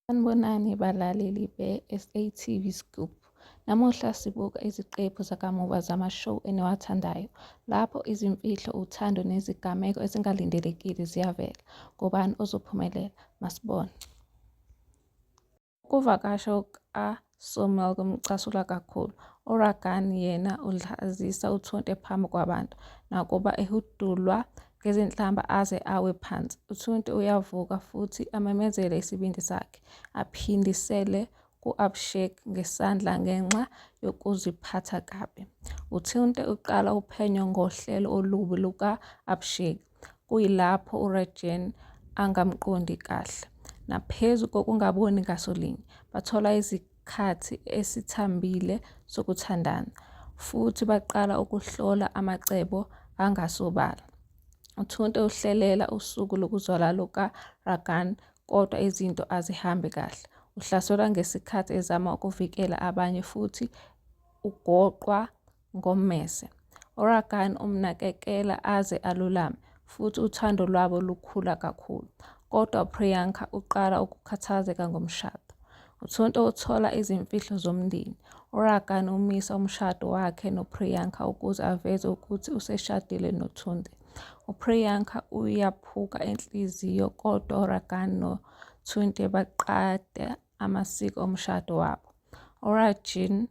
Sanibonani balaleli be-SATV Scoop. Namuhla sibuka iziqephu zakamuva zama-show eniwathandayo lapho izimfihlo, uthando nezigameko ezingalindelekile ziyavela. Ngubani ozophumelela? Masibone. Ukuvakasha kuka So Malcolm ucasula kakhulu. URagan yena udlazisa uThunte phambi kwabantu nakuba ehudulwa ngezinhlamba aze awe phansi. UThunte uyavuka futhi amemezele isibindi sakhe, aphindisele ku-Abhishek ngesandla ngenxa yokuziphatha kabi. UThunte uqala uphenyo ngohlelo olubi luka-Abhishek. kuyilapho uRegen angamqondi kahle. Naphezu kokungaboni ngaso linye, bathola isikhathi esithambile sokuthandana futhi baqala ukuhlola amacebo angasobala. UThunte uhlelela usuku lokuzwala lukaRagan kodwa izinto azihambi kahle. Uhlaselwa ngesikhathi ezama ukuvikela abanye futhi ugoqwa ngommese. URagan umnakekela aze alulame futhi uthando lwabo lukhula kakhulu. Kodwa uPriyanka uqala ukukhathazeka ngomshado. UThunto uthola izimfihlo zomndeni. URagan umisa umshado wakhe noPriyanka ukuze aveze ukuthi useshadile noThunte. UPriyanka uyaphuka inhliziyo kodwa uRagan noThunte baqada amasiko omshado wabo. URajin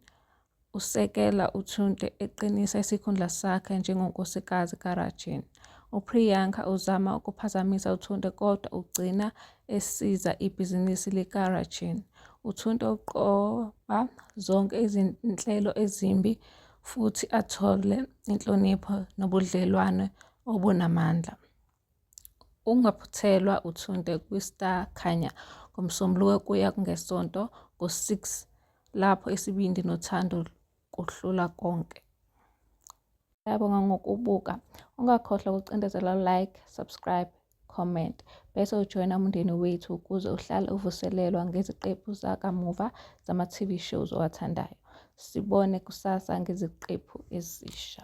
Usekela uThunde eqinisa isikhundla sakhe njengonkosikazi kaRajan. UPriyanka uzama ukuphazamisa uThunde kodwa ugcina esiza ibhizinisi likaRajan. UThunde uqoba zonke izinhlelo ezimbi futhi athole inhlonipho nobudlelwane obunamandla. Ungaphuthelwa uthunde kwi-Star Khanya ngoMsombuluko kuya kungeSonto ngo-6 lapho isibindi nothando kuhlula konke. Ngiyabonga ngokubuka. Ungakhohlwa ukucindezela like, subscribe, comment bese ujoyina umndeni wethu ukuze uhlale uvuselelwa ngeziqephu zakamuva zama-TV shows owathandayo. Sibone kusasa ngeziqephu ezisha.